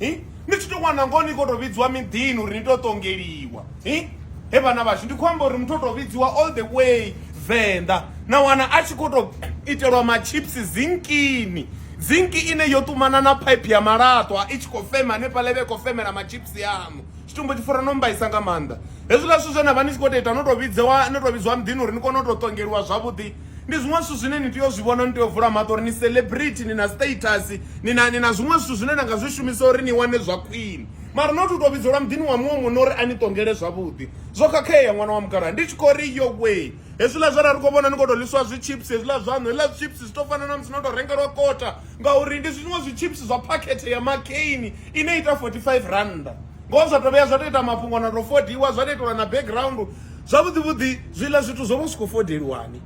hi ni tshi tou wana ngoho ni khou tou vhidziwa miḓini uri ni tou ṱongeliwa hi he vhana vhashu ndi khou amba uri muthu o tou vhidziwa all the way venḓa na wana a tshi khou tou itelwa machips zinkini zinki ine yo ṱumana na phaiphi ya malaṱwa i tshi khou fema hanefhala ivhe khou femela machips aṋu tshitumbo tshi fura no mbaisa nga maanḓa hezwiḽa zwithu zwe na vha ni tshi khou tou ita no tou vhidzewa no tou vhidziwa muḓini uri ni kone u tou ṱongeliwa zwavhuḓi Ndi zwiṅwe zwithu zwine ni tea u zwi vhona, ni tea u vula maṱo uri ni celebrity, ni na status, ni na ni na zwiṅwe zwithu zwine na nga zwi shumisa uri ni wane zwa khwine. Mara not u tou vhidzelwa muḓini wa muṅwe munna uri a ni ṱongele zwavhuḓi. Zwo khakhea ṅwana wa mukalaha. Ndi tshi khou ri yowee, hezwiḽa zwe ra ri khou vhona ni khou tou ḽisiwa zwi chips hezwiḽa zwaṋu, hezwiḽa zwi chips zwi tou fana na musi no tou rengelwa kota ngauri ndi zwiṅwe zwi chips zwa phakhethe ya makheini ine ya ita forty-five rannda. Ngoho zwa tou vhuya zwa tou ita mafhungo na tou fodiwa zwa tou itelwa na background. Zwavhuḓi vhuḓi zwiḽa zwithu zwo vha zwi khou fodeliwani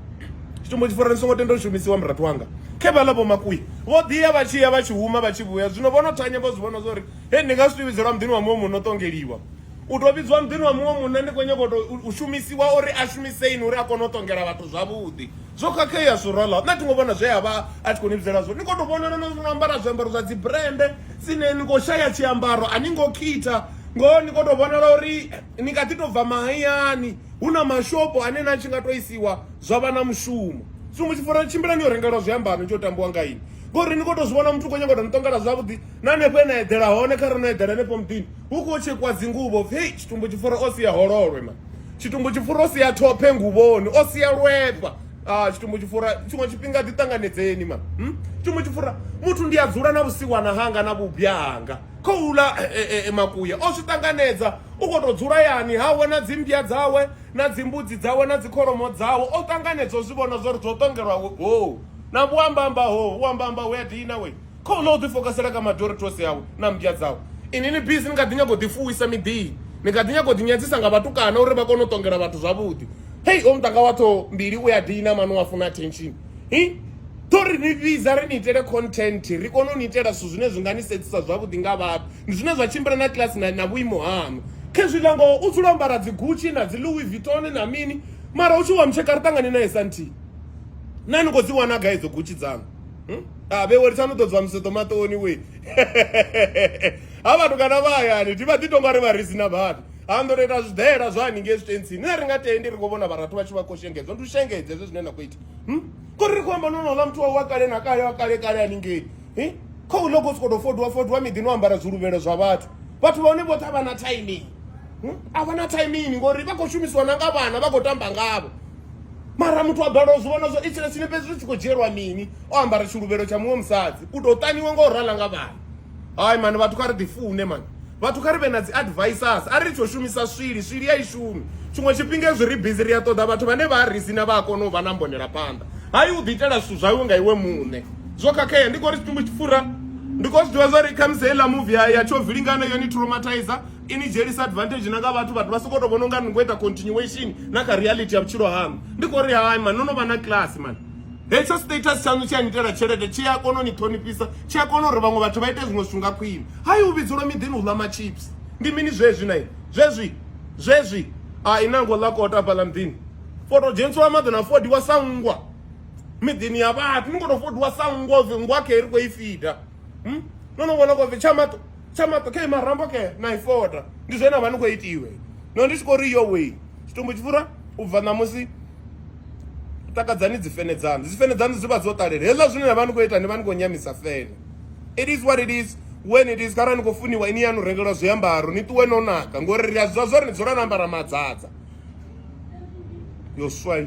tshitumbo tshi fora ni songo tenda u shumisiwa murathu wanga khe vhaḽa vho makuya vho ḓiya vha tshi ya vha tshi huma vha tshi vhuya zwino vho no thanya vho zwi vhona zwa uri he ndi nga zwi vhidzelwa muḓini wa muṅwe muno ṱongeliwa u tou vhidziwa muḓini wa muṅwe munna ndi khou nyanga u tou u shumisiwa uri a shumiseini uri a kone u ṱongela vhathu zwavhuḓi zwo khakhea surala nṋe thi ngo vhona zwe a vha a tshi khou ni vhidzela zwone ni khou tou vhonala no ambara zwiambaro zwa dzi brende dzine ni khou shaya tshiambaro a ni ngo khitha ngoho ni khou tou vhonala uri Ni kha ḓi tou bva mahayani, hu na mashopo ane na tshi nga tou isiwa zwa vha na mushumo. Tsumbo, Tshifuwani tshimbila ni yo rengelwa zwiambaro ni tshi yo tambiwa nga inwi ngori ni khou tou zwi vhona muthu u khou nyanga u tou ni ṱongela zwavhuḓi na hanefho he na eḓela hone kha re no eḓela hanefho muḓini hu khou tshekwa dzinguvho pfhi hei tshitumbo tshifuwani o sia hololwe ma tshitumbo tshifuwani o sia thophe nguvhoni o sia lwefha a tshitumbo tshifuwani tshiṅwe tshifhinga ḓi ṱanganedzeni ma tshitumbo tshifuwani muthu ndi a dzula na vhusiwana hanga na vhubya hanga khou ḽa makuya. O zwi ṱanganedza, u khou tou dzula hayani hawe na dzimmbya dzawe na dzimbudzi dzawe na dzikholomo dzawe. O ṱanganedza, o zwi vhona zwa uri zwo ṱongelwa hoo na vhuambamba hoo, vhuambamba hue a dina wee, khou ḽa o ḓifokasela kha madorethosi awe na mmbya dzawe. Inwi ni busy ni kha ḓi nyaga u ḓifuwisa miḓini, ni kha ḓi nyaga u ḓinyadzisa nga vhatukana uri vha kone u ṱongela vhathu zwavhuḓi. Hei, hoyu muṱanga wa ṱhoho mbili u a dina, mano u a funa attention. hi ḓo ri ni vhidza ri ni itele content ri kone u ni itela zwithu zwine zwi nga ni sedzisa zwavhuḓi nga vhathu ndi zwine zwa tshimbila na class na, na vhuimo haṋu khezwiḽa ngoho u dzula ambara dzi gucci na dzi louis vuitton na mini mara u tshi wa mutsheka ri ṱangane naye sa nthihi na ni khou dzi wana gai idzo gucci dzanu hmm? a ah, vhewe litsani u ḓo dzwa museḓo maṱoni we ha vhathu kana vha hayani ndi vha ḓi tonga ri vha ri si na vhathu ha ndo ita zwidela zwa haningei zwitentsini nṋe ri nga tendi ri khou vhona vharathu vha tshi vha khou shengedzwa ndi u shengedza hezwo zwine na khou ita hmm? kori ri khou amba nonola muthu wawe wa kale na kale wa kale kale haningei hmm? kha u loko siko to fodwa fodwa miḓi no ambara zwiluvhelo zwa vhathu vhathu vhone vhoṱhe a vha na timing hmm? a vha na timing ngori vha khou shumisiwa na nga vhana vha khou tamba ngavho mara muthu a bala u zwi vhona zwo itshile tshine fhedzi zwi tshi khou dzhielwa mini o ambara tshiluvhelo tsha muṅwe musadzi u tou taniwe nga u rala nga vhana hayi mani vhathu kha ri ḓi fune mani vhathu kha ri vhe na dzi advisors a ri tsho shumisa swili swili ya i shumi tshiṅwe tshifhinga ezwi ri busy ri a ṱoḓa vhathu vhane vha ri sina vha a kona u vha na mbonela phanḓa hayi u ḓiitela zwithu zwau nga iwe muṋe zwo khakhea ndi khou ri tshitumbu tshi fura ndi khou zwi ḓivha zwa ri khamusi heiḽa muvi ya ya tsho vilingana yone traumatizer i ni dzhielisa advantage na nga vhathu vhathu vha sokou tou vhona unga ni khou ita continuation na kha reality ya vhutshilo haṋu ndi khou ri hai mani no no vha na class mani Hetsho status tshaṋu tshi a ni itela tshelede tshi a kona u ni ṱhonifhisa tshi a kona uri vhaṅwe vhathu vha ite zwiṅwe zwithu nga khwine hai u vhidzelwa miḓini u ḽa machips ndi mini zwezwi na ini zwezwi zwezwi a i nango ḽa kota hafhaḽa muḓini for to dzhenisiwa maḓi na fodiwa sa nngwa miḓini ya vhathu ni kho to fodiwa sa nngwa nngwa khe ri khou i fida no no vhona kho pfi tsha maṱo tsha maṱo khe marambo ke na ifota ndi zwe na vha ni khou itiwe no ndi tshi khou ri yo wei tshitumbu tshi fura u bva ṋamusi takadzani dzifene dzanu dzifene dzanu dzi vha dzo ṱalela hezwa zwine na vha ni khou ita ni vha ni khou nyamisa fene it is what it is when it is kharali ni khou funiwa ini yanu rengelwa zwiambaro ni ṱuwe no naka ngori ri a zwa zwa ri ni dzula no ambara madzadza yo swai